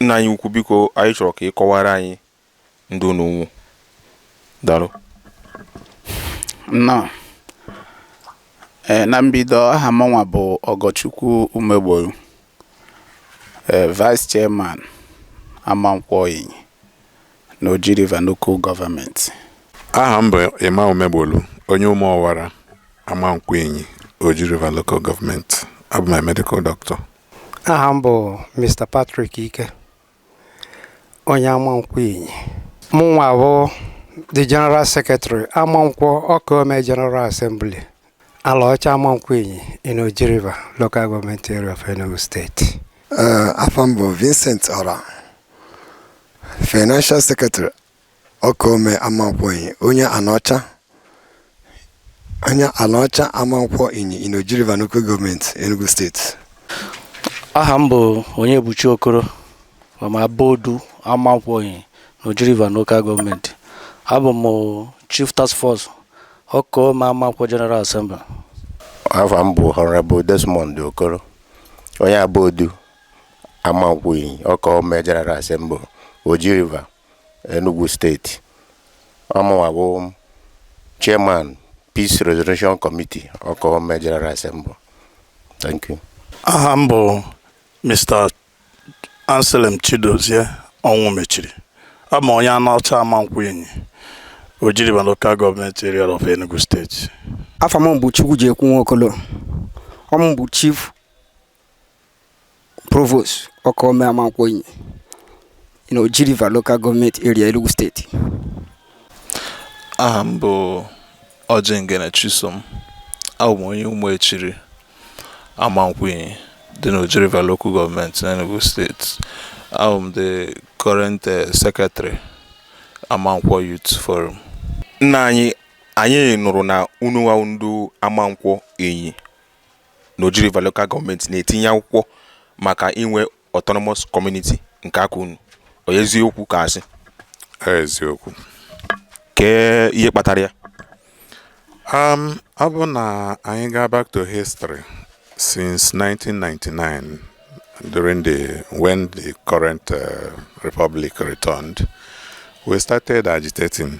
nna anyị ukwu biko anyị chọrọ ka ị kọwara anyị ndị unu nwụ daalụ nnọọ na mbido aha mụnwa bụ Ọgọchukwu Umegboru vice chairman Amankwọ Inyi n'Oji River Local Government. Aha m bụ Emma Umegbolu, onye Umuowara, Amankwọ Inyi, Oji River Local Government. Abụ m a medical doctor. Aha m bụ Mr. Patrick Ike, onye Amankwọ Inyi. Mụnwa bụ the General Secretary Amankwọ Ọkaome General Assembly. Alaọcha Amankwọ Inyi in Oji River, Local Government Area of Enugu State. afa m bụ Vincent Ora Financial Secretary Ọkaome Amankwọ Inyi onye Anaọcha onye Anaọcha Amankwọ Inyi in Oji River Local Government Enugu State. aha m bụ Onyebuchi Okoro from Abodu Amankwọ Inyi n'Oji River Local Government. Abụ m Chief Task Force Ọkaome Amankwọ General Assembly. Afa m bụ Honorable Desmond Okoro, onye Abodu Amankwọ Inyi Ọkaome General Assembly, Oji River, Enugu Steeti. Ọ mụnwa bụ Chairman Peace Resolution Committee Ọkaome General Assembly. Thank you. Aha m bụ Mr. Anselm Chidozie Ọnwụmechiri abụ m onye Anaọcha Amankwọ Inyi Oji River Local Government Area of Enugu State afa m bụ Chukwujekwu Nwokolo ọ m bụ Chief Provost Ọkaome Amankwọ Inyi in Oji River Local Government Area, Enugu State. Aha m bụ Ojengene Chisom, abụ m onye Umuechiri Amankwọ Inyi dị n'Oji River Local Government n'Enugu State. Abụ m the current uh, secretary Amankwọ Youth Forum. Nna anyị anyị nụrụ na unu nwa ndị Amankwọ Inyi n'Oji River Local Government na-etinye akwụkwọ maka inwe autonomous community nke aka unu ọ eziokwu ka asị eziokwu kee ihe kpatara ya um, ọ bụ na anyị gaa back to history since 1999 during the when the current uh, republic returned we started agitating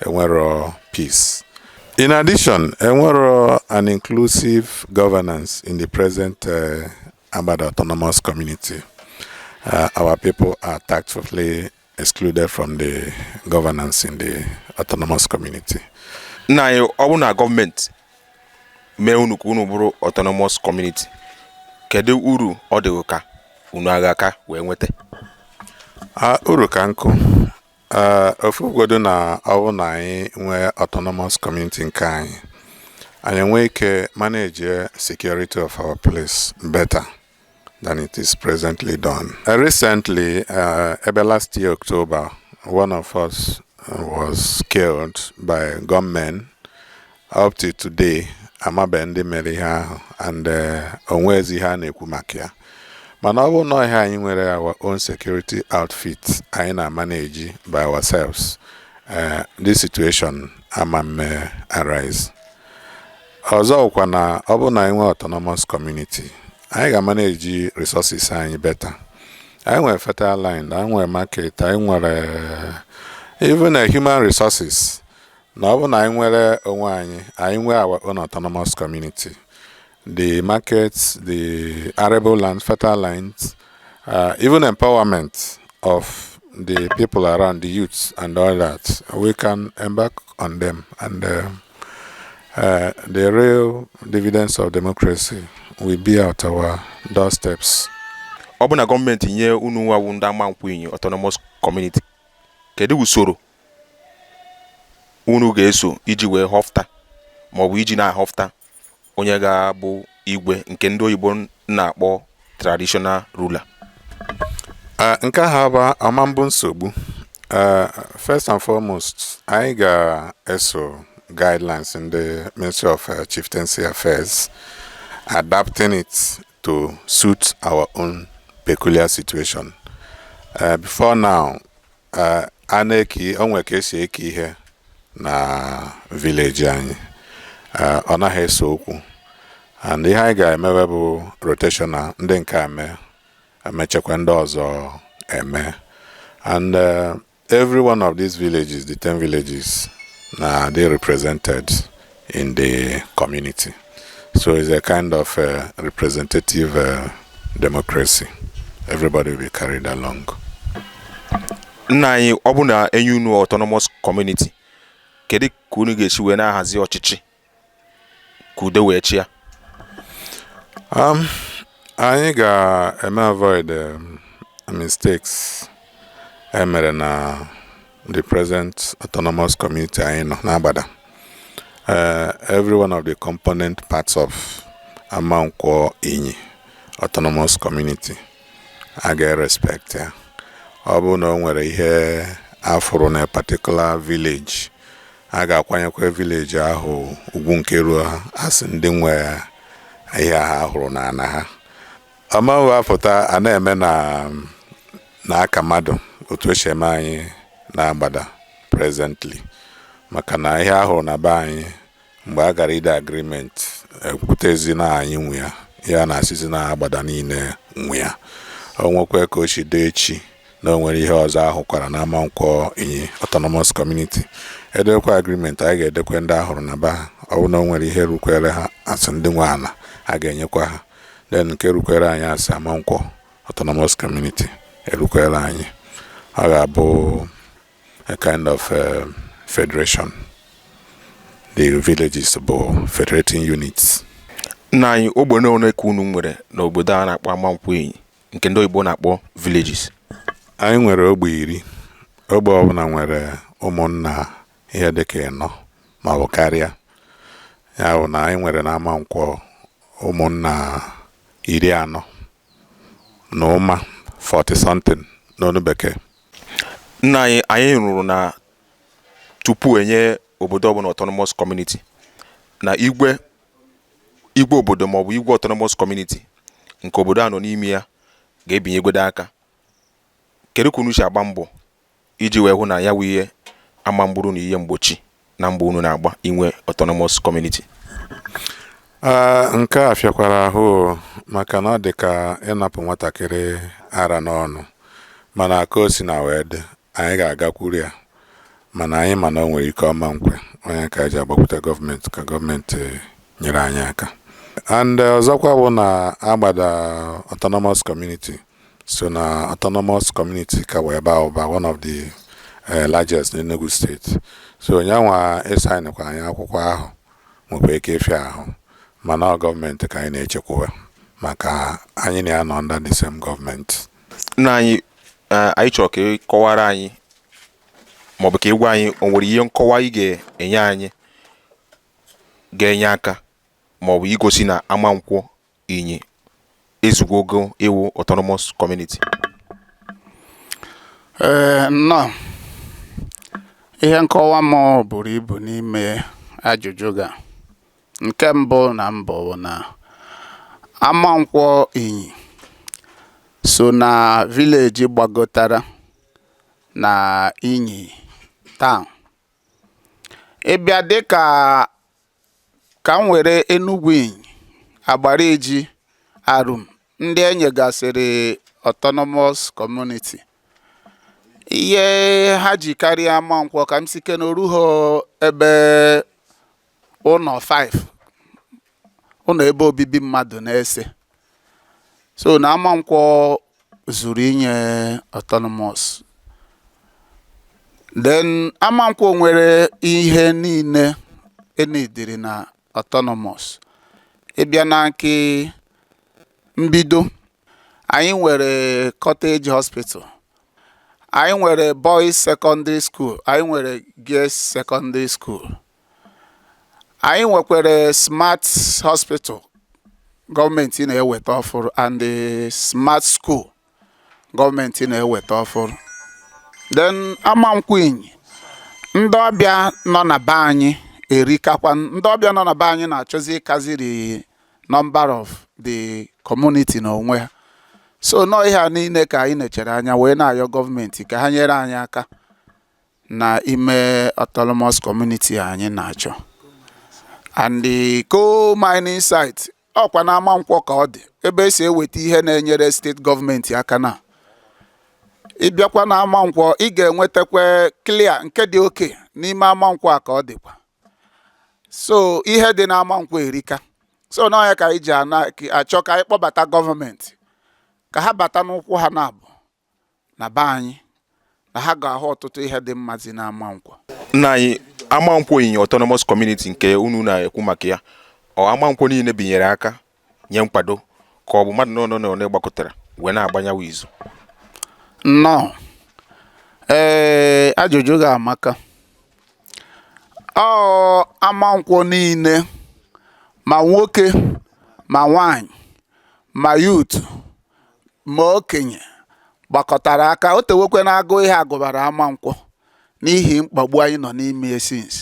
enwero peace. In addition, enwero an inclusive governance in the present uh, Agbada Autonomous Community. Uh, our people are tactfully excluded from the governance in the autonomous community. Nna anyị ọ bụrụ na gọọmenti mee unu ka unu bụrụ autonomous community kedu uru ọ dị ka unu agha ka wee nweta? Uh, uru ka nkụ ee ofu godu na ọ bụ na anyị nwee autonomous community nke anyị anyị nwee ike manage security of our place better than it is presently done. Uh, recently, uh, ebe last year October, one of us was killed by gunmen up to today amabe ndị mere ihe ahụ and eh, onwezi ihe a na-ekwu maka ya mana ọ bụ na ọha anyị nwere our own security outfit anyị na-manage by ourselves eh, this situation ama mme arise ọzọ kwa na ọ bụ na anyị nwee autonomous community anyị ga-manage resources anyị better anyị nwere fertile land anyị nwere market anyị nwere eh, even human resources na ọ bụ na anyị nwere onwe anyị anyị nwee our own autonomous community the markets the arable land fertile lands uh, even empowerment of the people around, the youths and all that, we can embark on them. And uh, uh, the real dividends of democracy will be at our doorsteps. ọ bụ na gọọmenti nye unu nwa wụ ndị Amankwo Inyi autonomous community kedu usoro unu ga-eso iji wee họfụta maọbụ iji na-ahọfụta onye ga-abụ igwe nke ndị oyibo na-akpọ traditional ruler nke ahụ abụ ama mbụ nsogbu first and foremost anyị ga-eso guidelines ndị Ministry of uh, Chieftaincy Affairs adapting it to suit our own peculiar situation uh, before now Eh, a na-eke o nwere ka esi eke ihe na village anyị Eh, ọ naghị ese okwu and ihe anyị ga-emewe bụ rotational ndị nke a mee emechekwa ndị ọzọ eme and eh, every one of these villages the 10 villages na-adị represented in the community. So it's a kind of uh, representative uh, democracy. Everybody will be carried along. Nna anyị ọ bụ na enye unu autonomous community kedu ka unu ga-esi wee na-ahazi ọchịchị ka udo wee chịa um, anyị ga-eme avoid um, mistakes emere na the present autonomous community anyị nọ n'Agbada uh, every one of the component parts of Amankwọ Inyi autonomous community a ga-respect ya ọ bụrụ na o nwere ihe afụrụ na particular village a ga-akwanyekwa village ahụ ugwu nke ruo ha as ndị nwe ihe a hụrụ n'ana ha ọ ma abụ apụta a na-eme na aka mmadụ otu esi eme anyị n'Agbada presently maka na ihe a hụrụ na be anyị mgbe a gara ide agreement ekwutezi na anyị nwe ya a na-asịzi na Agbada niile nwe ya o nwekwa ka o si dị echi na o nwere ihe ọzọ ahụkwara na Amankwọ Inyi autonomous community edekwa agreement anyị ga-edekwe ndị a hụrụ na be ha ọ bụ na o nwere ihe rukwere ha as ndị nwe ala a ga-enyekwa ha then nke rukwere anyị as Amankwọ autonomous community erukwere anyị ọ ga-abụ a kind of uh, federation the villages bụ federating units nna anyị ogbe n'one ka unu nwere n'obodo a na-akpọ Amankwọ Inyi nke ndị oyibo na-akpọ villages anyị nwere ogbe iri ogbe ọbụla nwere ụmụnna ihe dị ka ịnọ ma ọ bụ karịa ya bụ na anyị nwere na Amankwọ ụmụnna iri anọ na ụma 40 something n'onu bekee nna anyị anyị nụrụ na tupu enye obodo ọbụla autonomous community na igwe obodo maọbụ igwe autonomous community nke obodo a nọ n'ime ya ga-ebinyegodo aka kedu ka unu si agba mbọ iji wee hụ na ya wụ ihe ama mgburu na ihe mgbochi na mbọ unu na-agba inwe autonomous community nke a fịakwara ahụ maka na ọ dị ka ịnapụ nwatakịrị ara n'ọnụ mana ka o si na wee dị anyị ga-agakwuru ya mana anyị ma na o nwere ike ọ ma nkwe ọ nya ka eji agbakwute gọọmenti ka gọọmenti nyere anyị aka and ọzọkwa bụ na Agbada autonomous community so na autonomous community ka wee ba ụba one of the eh, largest n'Enugu steeti so nyanwa ịsaịnịkwa anyị akwụkwọ ahụ nwekwa ike ịfịa ahụ mana ọ gọọmenti ka anyị na-echekwuwa maka anyị na ya nọ under the same gọọmenti nna anyị eh, anyị chọrọ ka ị kọwara anyị maọbụ ka ị gwa anyị o nwere ihe nkọwa ị ga-enye anyị ga-enye aka maọbụ igosi na Amankwọ Inyi ezugwo ogo ịwụ autonomous community? Ee, nnọọ. Ihe nkọwa m buru ibu n'ime ajụjụ gị a nke mbụ na mbụ bụ na Amankwọ Inyi so na village gbagotara na Inyi town. Ị bịa dịka Ka m were Enugwu Inyi, Agbariji, Arum ndị e nyegasịrị autonomous community. Ihe ha ji karịa Amankwọ ka m si ke na o ruho ebe ụnọ five, ụnọ ebe obibi mmadụ n'ise. so na amankwọ zuru inye autonomous then amankwọ nwere ihe niile e needịrị na autonomous ị bịa na nke mbido anyị nwere cottage hospital anyị nwere boys secondary school anyị nwere girls secondary school anyị nwekwara smart hospital gọọmenti na-eweta ọfụrụ and the smart school gọọmenti na-eweta ọfụrụ then Amankwọ Inyi ndị ọbịa nọ na be anyị erikakwa ndị ọbịa nọ na be anyị na-achọzi ịkaziri number of the community na onwe ha so nọ ihe a niile ka anyị nechere anya wee na-ayọ gọọmenti ka ha nyere anyị aka na ime autonomous community anyị na-achọ and the coal mining site ọ kwa na Amankwọ ka ọ dị ebe e si eweta ihe na-enyere steeti gọọmenti aka na ị bịakwa na Amankwọ ị ga-enwetakwa clay nke dị okay n'ime Amankwọ a ka ọ dịkwa so ihe dị na Amankwọ erika so na ọ ya ka anyị ji achọ ka anyị kpọbata gọọmenti ka ha bata n'ụkwụ ha naabụ na be anyị na ha ga-ahụ ọtụtụ ihe dị mma zi na Amankwọ nna anyị Amankwọ Inyi autonomous community nke unu na-ekwu maka ya ọ Amankwọ niile binyere aka nye nkwado ka ọ bụ mmadụ one na one gbakọtara wee na-agbanyawa izu nnọọ ee ajụjụ gị a amaka ọ Amankwọ niile ma nwoke ma nwanyị ma youth ma okenye gbakọtara aka o tewekwe na agụụ ihe a gụbara Amankwọ n'ihi mkpagbu anyị nọ n'ime ya since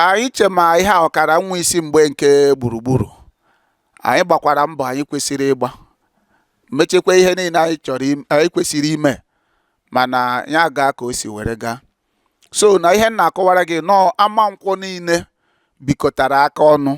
anyị che ma ihe a ọ kara nwee isi mgbe nke Gburugburu anyị gbakwara mbọ anyị kwesịrị ịgba mechekwa ihe niile anyị kwesịrị ime mana ya agaa ka o si were gaa so na ihe m na-akọwara gị nọọ Amankwọ niile bikọtara aka ọnụ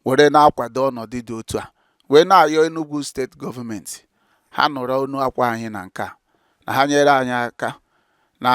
were na-akwado ọnọdụ dị otu a wee na-ayọ Enugu steeti gọọmenti ha nụrụ onu akwa anyị na nke a na ha nyere anyị aka na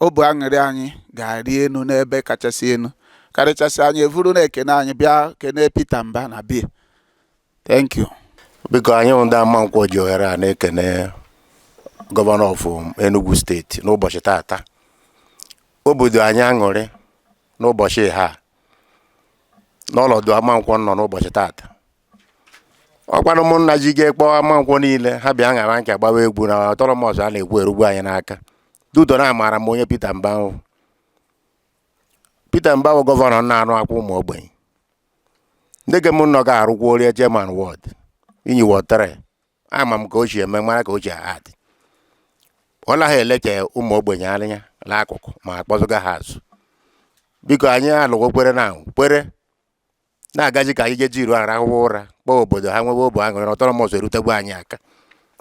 obu aṅụrị anyị ga-arị enu n'ebe kachasị enu karịchasị anyị evuru na-ekene anyị bịa kene Peter Mba na bie thank you biko anyị bụ ndị Amankwọ ji ohere a na-ekene gọvanọ of Enugu steeti n'ụbọchị tata obu dụ anyị aṅụrị n'ụbọchị a n'ọnọdụ Amankwọ nọ n'ụbọchị tata ọkwanụ ụmụnna ji ga-ekpọ Amankwọ niile ha bịa ṅara nke gbawa egwu na autonomous a na-ekwu erugbu anyị n'aka dudo na amaara m onye Peter Mba wụ Peter Mba wụ gọvanọ na-anụ akwa ụmụ ogbenye ndị gem nọ ga-arụkwa orie chairman ward Inyi ward three ama m ka o si eme mara ka o si adị ọ naghị eleche ụmụ ogbenye anya n'akụkụ ma akpọzụga ha azụ biko anyị alụgo kwere na kwere na-agazi ka anyị jeji iru arahụwa ụra kpọọ obodo ha nwewe obu aṅụrị na autonomous erutegbu anyị aka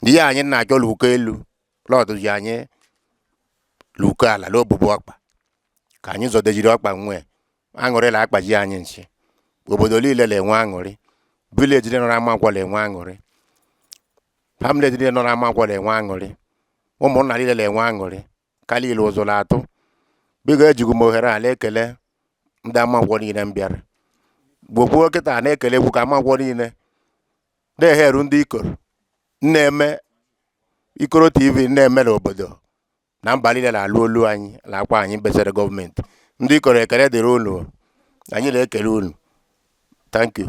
na ihe anyị na-achọ luko elu lọdụzi anyị luko ala n'obubu ọkpa ka anyị zọdejiri ọkpa nwee aṅụrị la akpaji anyị nchi obodo niile na-enwe aṅụrị village dị nọrọ Amankwọ na-enwe aṅụrị hamlet niile nọrọ Amankwọ na-enwe aṅụrị ụmụnna niile na-enwe aṅụrị ka liile ụzụ na-atụ biko ejigo m ohere a na-ekele ndị Amankwọ niile m bịara gbokwuo kịta na-ekelekwu ka Amankwọ niile na-eheru ndị ikoro na-eme Ikoro TV na-eme n'obodo na mba niile na-alụ olu anyị na akwa anyị besere gọọmenti ndị Ikoro ekele dịrị unu anyị na-ekele unu thank you